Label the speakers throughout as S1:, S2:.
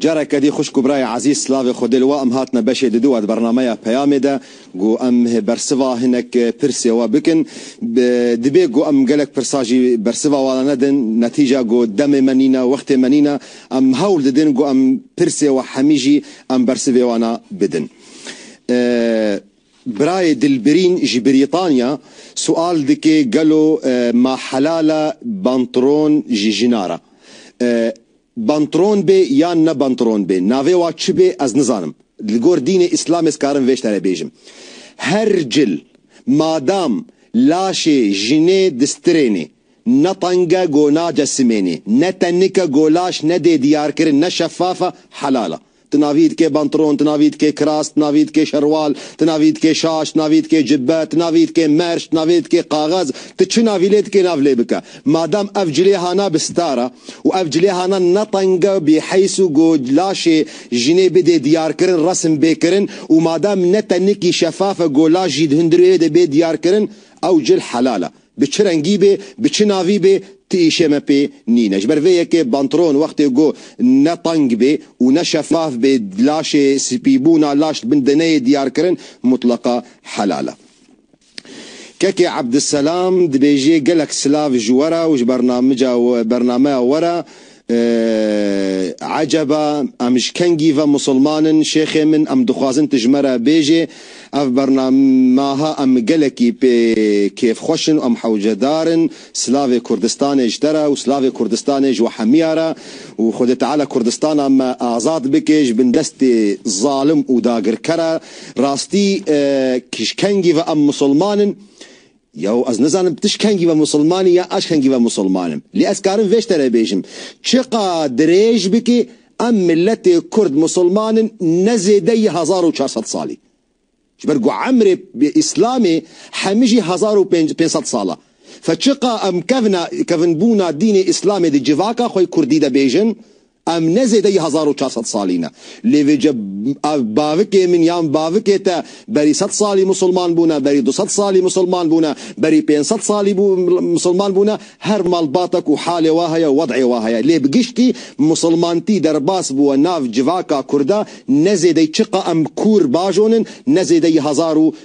S1: Careke dî xwişk û birayê ezîz silavê Xwedê li we em hatine beşê di duwa di bernameya peyamê de ku em bersiva hinek pirsê we bikin. Dibê ku em gelek pirsa jî bersiva wan nedin netîca ku demê me nîne wextê me nîne em hewl didin ku em pirsê we hemî jî em bersivê wan bidin. Birayê Dilbirîn ji Brîtanya sual dike gelo ma helal e bantron ji jina re bantron bê yan ne bantron bê navê wa çi bê ez nizanim li gor dînê îslamê ez karim vê ştene bêjim her cil madam laşê jinê di stirênê ne teng e go nace simênê ne tenik e go laş nedê diyarkirin ne şefaf e helal e. Tu navî dikê bantron, tu navî dikê kiras, tu navî dikê şerwal, tu navî dikê şaş, tu navî dikê cibbe, tu navî dikê merc, tu navê dikê kaxez, tu çi navî lê dikê nav lê bike. Madem ev cilêhana bi star e û ev cilêhana ne tenge bî heys û ku laşê jinê bidê diyarkirin resim bê kirin û madem ne tenikî şefaf e ku laş jî di hundirê wê de bê diyarkirin ew cil helal e. Bi çi rengî bê, bi çi navî bê, ti îşê me pê nîn e. Ji ber vê yekê bantron wextê ku ne teng bê û ne şefaf bê, laşê spîbûna laş li bin deneyê diyarkirin mutleqa helal e. Kekê Abdiselam dibêjê gelek silav ji we re û ji bernameya we re Eeh eceba em ji kengî ve musilman in şêxê min em dixwazin tu ji me re bêjê ev bernamaha em gelekî pê kêfxweş in û em hewcedar in silavê kurdistanê ji te re û silavê kurdistanê ji we hemiya re û xwedê teala kurdistana me azad bike ji bin destê zalim û dagirkera rastî eeh ji kengî ve em musilman in Yaw ez nizanim tişt kengî ve musilman î ya aş kengî ve musilman im. Lê ez karim vê şte re bêjim, çiqa dirêj bikî em miletê kurd musilman in ne zêde yî hezar û çar sed salî. Ji ber ku emrê îslamê hemî jî hezar û pênc pênc sed sal a. Fe çiqa em kevna kevinbûna dînê îslamê di civaka xwe yê kurdî de bêjin, Em ne zêdeyî hezar û çar sed salî ne. Lê vê ce ev bavikê min yan bavikê te berî sed salî misilman bûne, berî du sed salî misilman bûne, berî pênc sed salî misilman bûne, her malbatek û halê we heye û wed'ê we heye. Lê bi giştî misilmantî derbas bûwe nav civaka kurda ne zêdeyî çiqa em kûr bajon in ne zêdeyî hezar û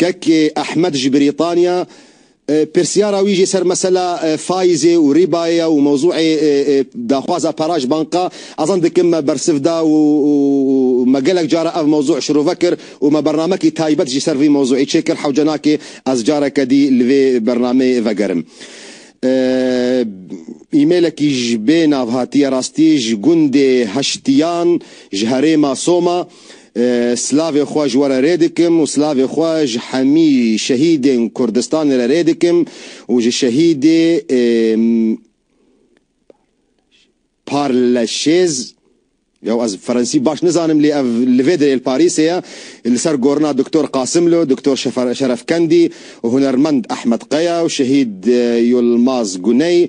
S1: Kekê Ehmed ji Brîtanya pirsyara wî jî ser mesela faîzê û rîbayê ye û mewzûê daxwaza para ji banka ezan dikim me bersiv da û me gelek caran ev mewzû şirove kir û me bernamekî taybet jî ser vî mewzûê çêkir hewce nake ez careke dî li vê bernameyê vegerim. Îmêlekî ji bê nav hatiye rastî ji gundê Heştiyan ji herêma Soma Silavê xwe ji we re rê dikim û silavê xwe ji hemî şehîdên Kurdistanê re rê dikim û ji şehîdê Parleşêz ya ez ferensî baş nizanim lê ev li vê derê li Parîsê ye li ser gorina Doktor Qasimlo, Doktor Şerefkendî û hunermend Ehmed Qeya û şehîd Yulmaz Guney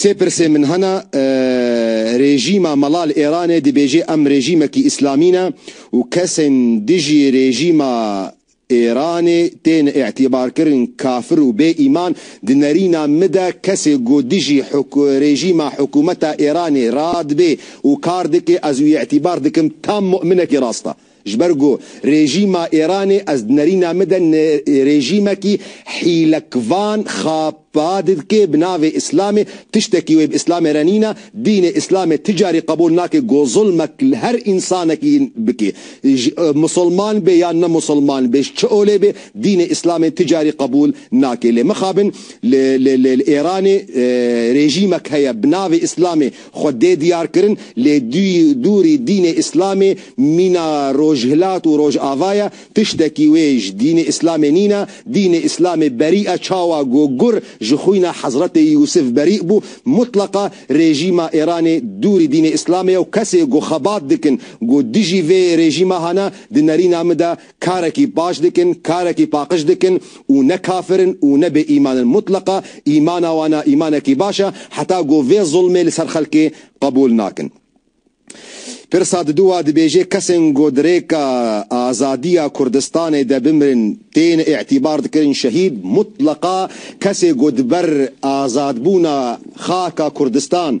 S1: Sê pirsên min hene, Rêjîma mela li Îranê dibêjê em rêjîmekî îslamî ne û kesên dijî rêjîma Îranê tên îtîbarkirin kafir û bê îman, di nerîna min de kesê ku dijî rêjîma hikûmeta Îranê radibê û kar dike ez wî îtîbar dikim tam mu'minekî rast e. Ji ber ku rejîma Îranê ez di nerîna min de ne rejîmekî hîlekvan xapa didke bi navê Îslamê, tiştekî wê bi Îslamê re nîna, dînê Îslamê ti carî qebûl nake ku zilmek li her însanekî bike. Ji misilman be yan ne misilman be, ji çi olê be dînê Îslamê ti carî qebûl nake. Lê mixabin li li li Îranê rejîmek heye bi navê Îslamê, Xwe dê diyar kirin lê dûrî dînê îslamê mîna rojhilat û rojava ye, tiştekî wê ji dînê îslamê nîne, dînê îslamê berî e çawa ku gur ji xwîna Hezretê Yûsif berî bû, mutleqa rejîma Êranê dûrî dînê îslamê ye û kesê ku xebat dikin ku dijî vê rejîma hane di nerîna min de Karekî baş dikin, karekî paqij dikin û ne kafir in û ne bêîman in. Mutleqa îmana wan a îmanekî baş e, heta ku vê zulmê li ser xelkê qebûl nakin. Pirsa didu wa dibêje, kesên ku di rêka azadiya Kurdistanê de bimirin tên îtîbar dikirin şehîd, mutleqa kesê ku di ber azadbûna xaka Kurdistan,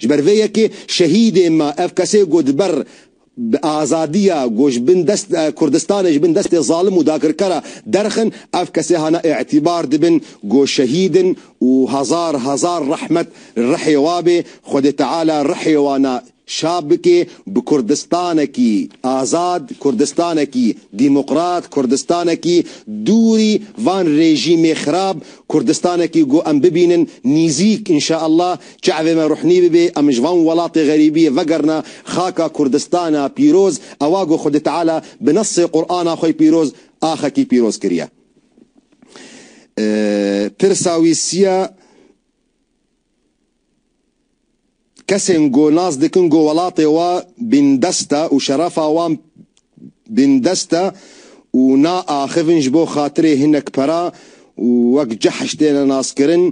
S1: Ji ber vê yekê şehîdê me ev kesê ku di ber bi azadiya ku ji bin dest Kurdistanê ji bin destê zalim û dakirkera derxin ev kesê hane îtîbar dibin ku şehîd in û hezar hezar rehmet li rihê wa bê Xwedê Teala rihê wan a şap bikê bi Kurdistanekî azad Kurdistanekî dîmokrat Kurdistanekî dûrî van rejîmê xirab Kurdistanekî ku em bibînin nîzîk inşaallah Çi evê me ruhnî bibe, em ji van welatê xerîbiyê vegerna xaka Kurdistana pîroz, ewa ku Xwedê Teala bi nesê Qur'ana xwe pîroz axekî pîroz kiriye. Pirsa wî siya kesên ku nas dikin ku welatê wan bîndest e û şerefa wan bindest e û naaxivin ji bo xatirê hinek pera û wek cehş têne naskirin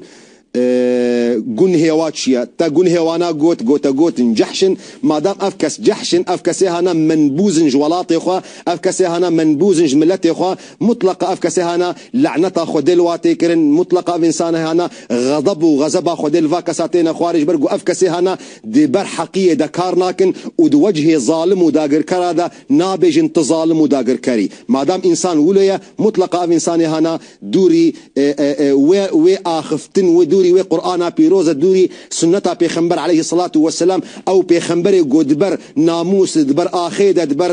S1: gun hêwa çi ye? Te gun hêwana got, gotegot in, cehş in, madem ev kes cehş in, ev kesê hene menbûz in ji welatê xwe, ev kesê hene menbûz in ji miletê xwe, mutleqa ev kesê hene leneta Xwedê li wa tê kirin, mutleqa ev însanê hene xedeb û xezeba Xwedê li va kesa têne xwarê ji ber ku ev kesê hene di ber heqiyê de kar nakin û di wecihê zalim û dagirkera de nabêjin tu zalim û dagirker î. Madam însan wilo ye, mutleqa ev însanê hana dûrî wê wê axiftin wê dûrî wê Qur'ana pîroz e dûrî sunneta pêxember eleyhi selatû we selam ew pêxemberê ku di ber namûs di ber axê de di ber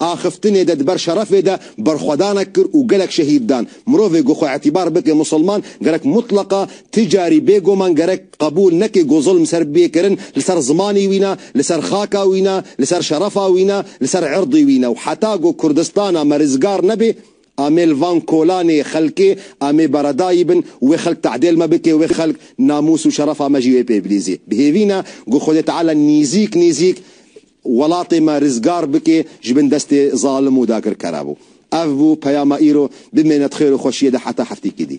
S1: axiftinê de di ber şerefê de berxwedanek kir û gelek şehîd dan. Mirovê ku xwe îtîbar bike musilman gerek mutleqa ti carî bêguman gerek Qebûl neke ku zulm ser bê kirin li ser zimanê wî ne, li ser xaka wî ne, li ser şerefa wî ne, li ser irdê wî ne û heta ku Kurdistana me rizgar nebe, amê li van kolanê xelkê amê beredayî bin û wê xelk tadêl me bike wê xelk namûs û şerefa me jî wê pê bilîzê. Bi hêvî ne ku Xwedê Teala nîzîk nîzîk welatê me rizgar bike ji bin destê zalim û dagirkera. Bû. Ev bû peyama îro. Bimêne di xêr û xweşiyê de heta hefteyekî dî.